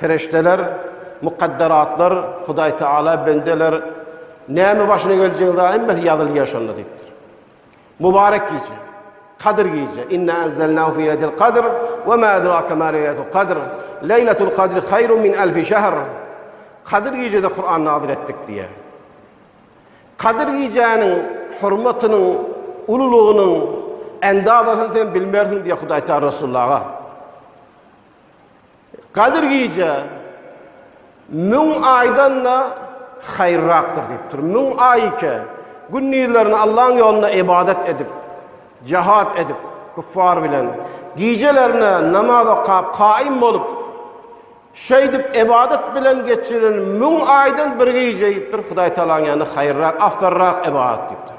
Perişdeler, mukadderatlar, Hudaý Tagala bendeler, näme başyna geljegiň zat hemmesi ýazylýar şonda diýipdir. Mubarek gije, Kadyr gije. Inna enzelnahu fi leyletil kadr we ma edrake ma leyletul kadr. Leyletul kadr hayrun min alfi şehr. Kadyr gijede Kur'an nazil etdik diýe. Kadyr gijäniň hormatynyň, ululygynyň endazasyny sen bilmersiň diýe Hudaý Taala Resulullaha. Gadyr gije müň aýdan-da haýyrrakdyr diýipdir. Müň aý ike, gündizlerini Allaň ýolunda ybadat edip, jahat edip, kuffar bilen, gijelerine namaz okap, kaýym bolup, şeýdip ybadat bilen geçiren müň aýdan bir gije diýipdir, Hudaý Tagalaň ýanynda haýyrrak, afzalrak ybadat diýipdir.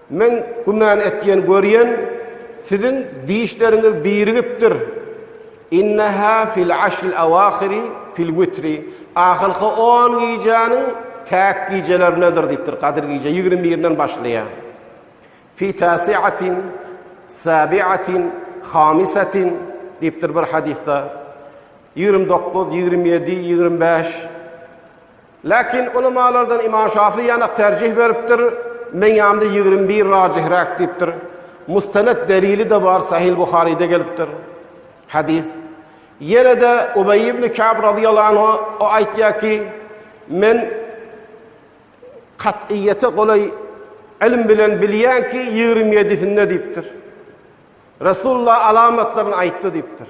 Men güman etýän görýän siziň dişleriňiz birigipdir. Inneha fil aşril awahiri fil witri ahyrky on gijäniň täk gijelerindedir diýipdir, gadyr gije ýigrimi birinden başlaýar. Fi tasiatin sabiatin hamisatin diýipdir bir hadysda. Ýigrimi dokuz, ýigrimi ýedi, ýigrimi bäş Lakin ulamalardan Imam Şafy ýanak terjih beripdir, Meň ýanymda ýigrimi bir rajihräk diýipdir. Mustaned delili-de bar, Sahyl Buharyda gelipdir. Hadys. Ýene-de Ubeý ibn Kab razyýallahu anhu o aýtýar ki, Men kat'yýete golaý ylym bilen bilýän ki, ýigrimi ýedisinde diýipdir. Resulullah alamatlaryny aýtdy diýipdir.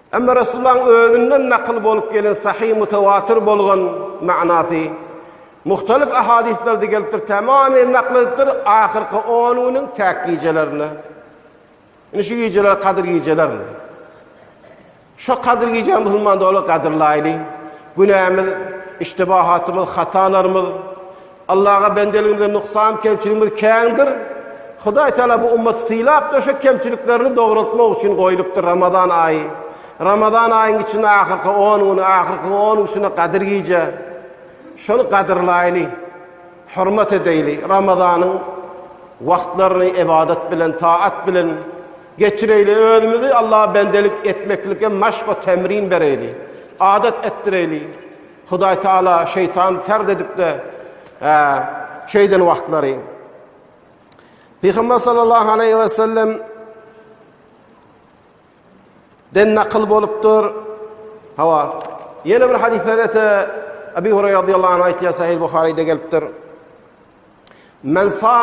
Emma Resulullahyň özünden nakyl bolup gelen sahyh mutawatyr bolgan manasy muhtalyf ahadyslerde gelipdir, tamamy nakyl edipdir, ahyrky on günüň täk gijelerine. Indi şu gijeler kadyr gijelermi? Şu kadyr gije musulman doly gadyrlaýly. Günämiz, iştibahatymyz, hatalarymyz, Allaha bendeligimizde nuksan, kemçiligimiz kändir. Hudaý Taala bu ummaty sylapdyr, şo kemçiliklerini dograltmak üçin goýlupdyr Ramazan aýy. Ramazan aýyň içinde ahyrky on güni, ahyrky on gün içinde Gadyr gije. Şony gadyrlaýly, hormat edeýli. Ramazanyň wagtlaryny ebadat bilen, taat bilen geçireýli. Özümizi Allaha bendelik etmeklike maşk we temrin bereýli. Adat etdireýli. Hudaý Taala şeýtany tard edip-de şeýden wagtlary Pygamber sallallahu aleyhi ve sellem den nakl bolupdyr. Hawa. Ýene bir hadisde de Abi Hurayra radiyallahu anh aýtýar Sahih Buhari'de gelipdir. Men sa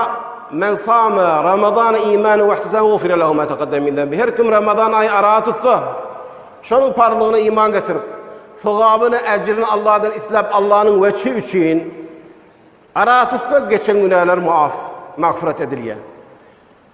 men sama Ramazan iman we ihtisam ufira lahu ma taqaddam min zambi. Her kim Ramazan aýy ara tutsa, şonuň parlygyna iman getirip, sogabyny, ejrini Allahdan isläp, Allahnyň weçi üçin ara tutsa, geçen günäler muaf, magfyrat edilýär.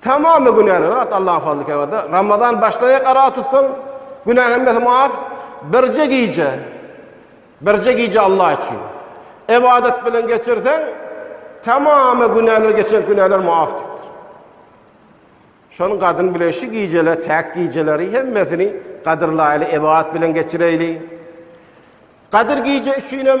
Tamamy günäli zat Allaň fazly kereminde. Ramazan başlaýak ara tutsaň, günäň hemmesi maaf. Birje gije, birje gije Allah üçin ibadat bilen geçirseň, tamamy günäler geçen günäler maaf dipdir. Şonuň gadyn bilen şu gijeler, täk gijeleri hemmesini gadyrlaýly ibadat bilen geçireýli. Gadyr gije üçin hem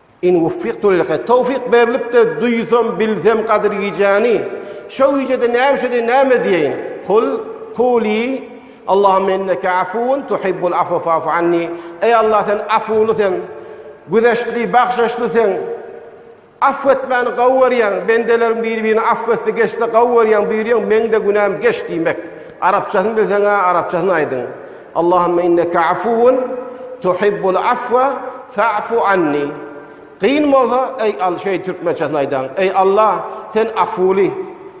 In wuffigtu lil haýr, towfyk berlip-de duýsam, bilsem gadyr gijäni, şo gijede näme üçedi, näme diýeýin? Kul, kuly, Allahumma inneke afuwun tuhibbul afwa fa'fu anni, Eý Allah, sen afuwly sen, güzeştli, bagşaşly sen, afw etmäni gowy görýäň, bendeleriň biri-birini afw etse, geçse gowy görýäň, buýurýaň, meň-de günäm geç diýmek. Arapçasyny bilseň-ä, arapçasyny aýdyň. Allahümme inneke afuwun tuhibbul afwa fa'fu anni. Gyn bolsa, eý Al, şeý türkmençesini aýdaň. Eý Allah, sen afuwly,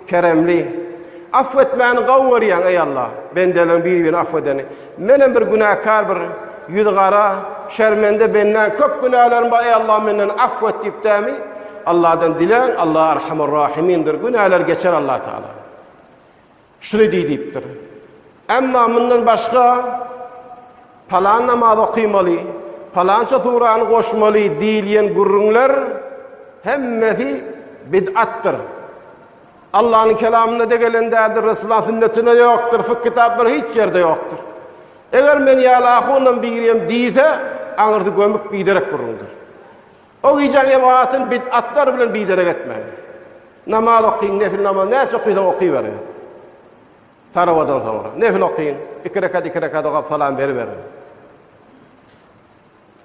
keremli. Afw etmäni gowy görýäň, eý Allah, bendeleriň bir-birini afw edeni. Menem bir günäkär, bir ýüzi gara, şermende bendäň, köp günälerim bar, eý Allah, menden afw et diýip dämi, Allahdan diläň, Allah Erhamur Rahimindir, günäler geçer Allah Taala. Şuny diý diýipdir. Emma mundan başga palan namazy okymaly, palança surany goşmaly diýilýän gürrüňler hemmesi bid'atdyr. Allanyň kelamynda de gelen däldir, Resulullahyň sünnetinde ýokdur, fik kitaplarynda hiç ýerde ýokdur. Eger men ýaly ahundan birem diýse, aňyrsy gömük biderek gürrüňdir. O gije jematyň bid'atlary bilen biderek etmäň. Namaz okyň, nefil namaz näçe okuysaň okyberiň. Tarawadan soňra nefil okyň, iki rekat iki rekat okap salam beriberiň.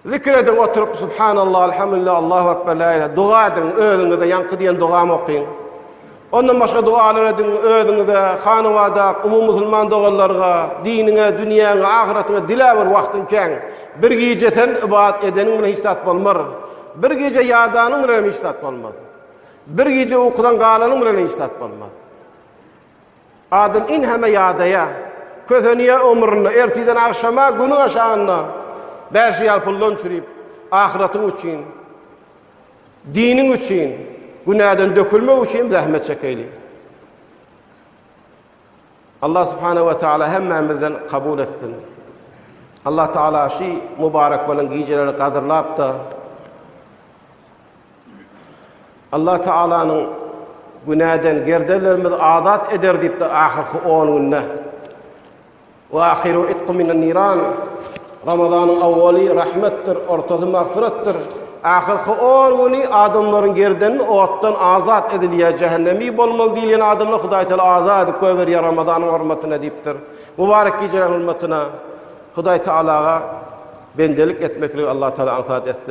Zikir ediň oturyp subhanallah, elhamdülillah, Allahu ekber, la ilahe, dua ediň, özüňize ýaňky diýen dogamy okyň. Ondan başga dogalar ediň, özüňize, hanawada, umumy musulman doganlarga, diniňe, dünýäňe, ahyratyňa dilä bir wagtyň kän. Bir gije sen ybadat edeniň bilen hiç zat bolmar. Bir gije ýadanyň bilenem hiç zat bolmaz. Bir gije ukudan galanyň bilenem hiç zat bolmaz. Adam inheme ýadaýa, kösenýä ömründe, ertiden agşama, günüň aşagynda bäşi ýal puldan çürip, ahyratyň üçin. Diniň üçin, günäden dökülmek üçin zähmet çekeýli. Allah subhanahu wa ta'ala hemmämizden kabul etsin. Allah ta'ala şu mübarek bolan gijeleri gadyrlap da Allah ta'alanyň günäden gerdelerimizi azat eder diýip de ahirki 10 günde Wa ahiru itqu minan niran. Ramazanyň awwaly rahmetdir, ortasy magfyratdyr. Ahyrky on güni adamlaryň gerdenini otdan azat edilýär, jähennemi bolmaly diýilýän adamlar Hudaý Taala azat edip goýberýär Ramazanyň hormatyna diýipdir. Mubarek gijäniň hormatyna Hudaý Taalaga bendelik etmekligi Allah Taala aňsat etsin.